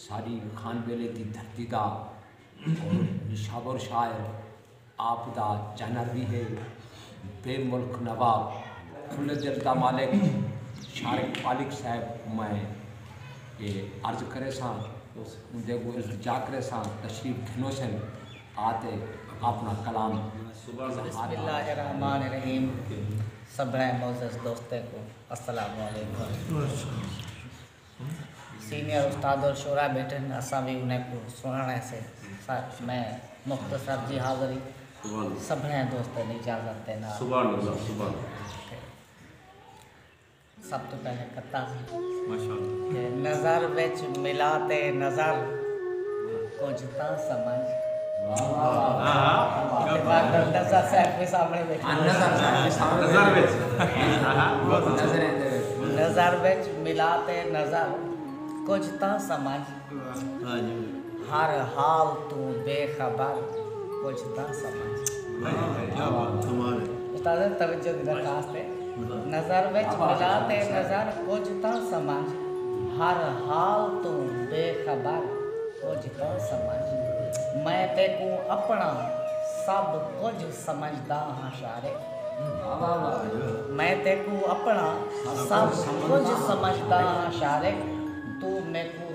ساݙی خان ویلے دی دھرتی دا اور نشابور شاعر آپ دا چینر وی ہے بے ملک نواب کھلے دل دا مالک شارق پالک صاحب میں اے عرض کرے ساں اوندے کو التجا کرے ساں تشریف گھنو سن آتے اپنا کلام بسم اللہ الرحمن الرحیم سبھڑے معزز دوستے کو السلام علیکم سینئر استاد اور شعراء بیٹھے ہن اساں وی انہاں کوں سنڑݨ ہیسے سر میں مختصر جی حاضری سبھنیں دوستاں دی اجازت دے نال تے سب توں پہلے کتاں سی تے نظر وچ ملا تے نظر کجھ تاں سمجھ نظر وچ ملا تے نظر کجھ تاں سمجھ ہر حال توں بے خبر کجھ تاں سمجھ استاد توجہ دی درخواست ہے۔ نظر وچ ملا تے نظر کجھ تاں سمجھ ہر حال توں بے خبر کجھ تاں سمجھ میں تیکوں اپݨا سب کجھ سمجھدا ہاں شارے میں تیکوں اپݨا سب کجھ سمجھدا ہاں شارے توں میکوں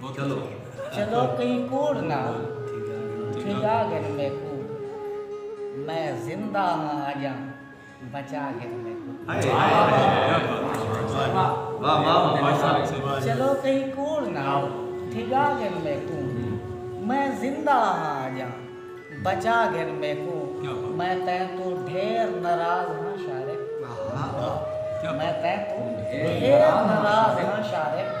چلو کہیں کوڑ نہ ٹھگا گھن میکوں میں زندہ ہاں اجاں بچا گھن میکوں چلو کہیں کوڑ نہ ٹھگا گھن میکوں میں زندہ ہاں اجاں بچا گھن میکوں میں تین تو ڈھیر ناراض ہاں شارق میں تین تو ڈھیر ناراض ہاں شارق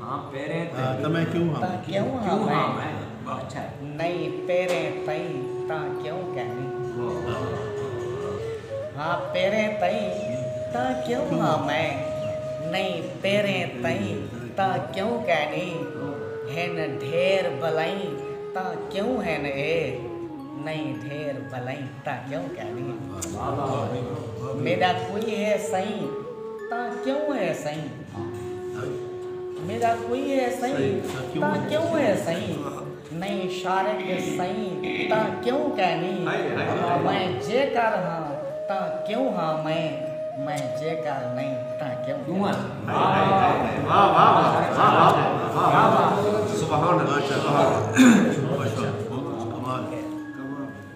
تاں میں کیوں ہاں میں۔ نئیں پیریں تئیں تاں کیوں کینی۔ ہن ڈھیر بلائیں تاں کیوں ہن اے۔ نئیں ڈھیر بلائیں تاں کیوں کینی۔ میڈا کوئی ہے سئیں تاں کیوں ہے سئیں۔ میڈا کوئی ہے سئیں تاں کیوں ہے سئیں نئیں شارق دے سئیں تاں کیوں کینی میں جے کر ہاں تاں کیوں ہاں میں میں جے کر نئیں تاں کیوں کینی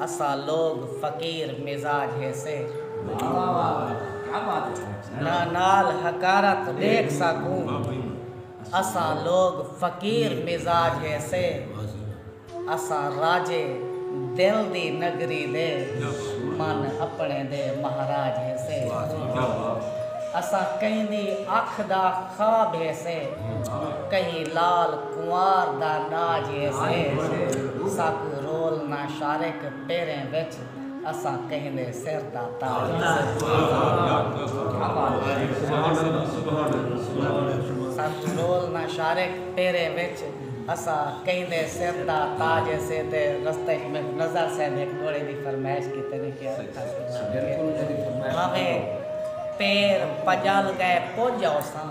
اساں لوگ فقیر مزاج ہیسے۔ نہ نال حقارت ڈیکھ ساکوں۔ اساں لوگ فقیر مزاج ہیسے۔ اساں راجے دل دی نگری دے۔ من اپنے دے مہاراج ہیسے۔ اساں کہیں دی اکھ دا خواب ہیسے۔ کہیں لال۔ کنوار دا ݙاج اے سے سک رول نہ شارک پیریں وچ اساں کہندے سر دا تاج اے سک رول نہ شارک پیریں وچ اساں کہندے سر دا تاج اے سے تے رستے اچ میں نزار صاحب ہک گھوڑے دی فرمائش کیتے نے کیا رکھا سی بھاویں پیر پڄل ڳئے پڄ آوساں۔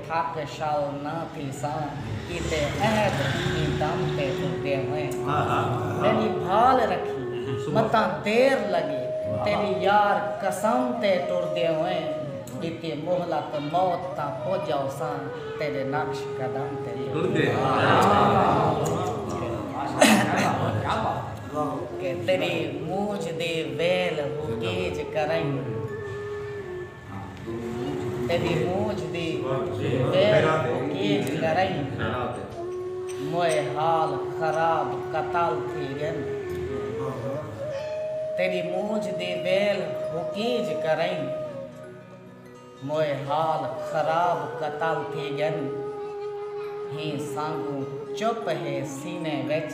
حق شال نہ تھیساں کیتے عہد ایں دم تے ٹرگے ہوئیں میݙی بھال رکھی متاں دیر لڳے تیݙی یار قسم تے ٹرگے ہوئیں ݙتی مہلت موت تاں پڄ آوساں تیݙے نقش قدم تے ٹرگے ہوئیں تیݙی مونجھ دی ویل ہو گیج کرئیں۔ تیݙی مونجھ دی پیر کیچ کرئیں موئے حال خراب قتال تھی ڳن تیݙی مونجھ دی ویل حکیج کرئیں موئے حال خراب قتال تھی ڳن ہیں سانگوں چپ ہے سینے وچ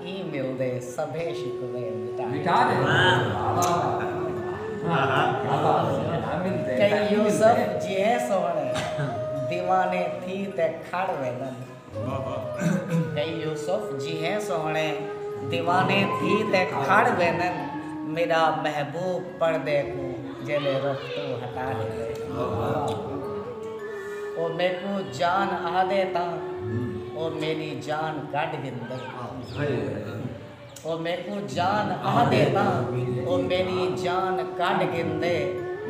ایں مل دے سبھے شکوے مٹا ݙے۔ کئی یوسف جیہے سوہݨے دیوانے تھی تے کھڑ ویندن۔ کئی یوسف جیہے سوہݨے دیوانے تھی تے کھڑ ویندن میݙا محبوب پردے کوں جیلے رخ توں ہٹا ݙیندے۔ او میکوں جان آہدے تاں۔ او میݙی جان کڈھ گھندے تاں او میکوں جان آہدے تاں او میݙی جان کڈھ گھندے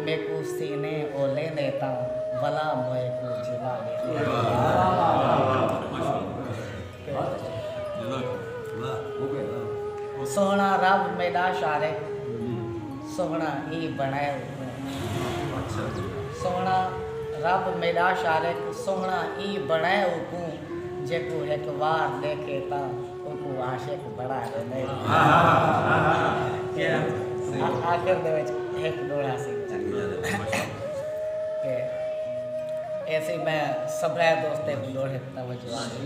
میکوں سینے او لیندے تاں ولا موئے کوں جلا لیندے سوہݨا رب میݙا شارق سوہݨا اے بݨائے اوکوں سوہݨا رب میݙا شارق سوہݨا اے بݨائے اوکوں جیکوں ہک وار ݙیکھے تاں اوکوں عاشق بݨا ݙیندے آخر دے وچ ہک ݙوہڑا سی تے اے سی میں سبھے دوستے کوں ݙوہڑے تے توجہ آندی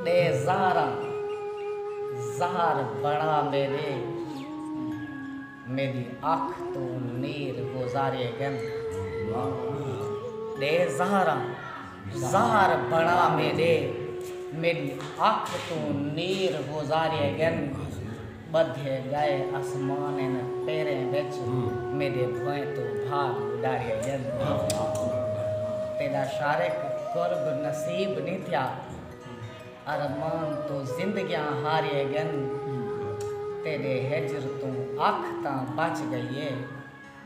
ݙے زہراں زہر بݨا میݙے میݙی اکھ توں نیر گزارے ڳن ݙے زہراں زہر بݨا میݙے میݙی اکھ توں نیر گزارے ڳن ٻدھے ڳئے اسمان ان پیریں وچ میݙے بھوئیں توں بھاڳ اݙارے ڳن تیݙا شارق قرب نصیب نی تھیا۔ ارمان توں زندگیاں ہاریے گن تیڈے ہجر توں اکھ تاں بچ گئی اے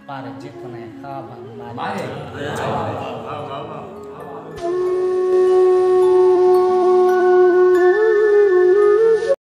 پر جتنے خواب ہن مارے گئے۔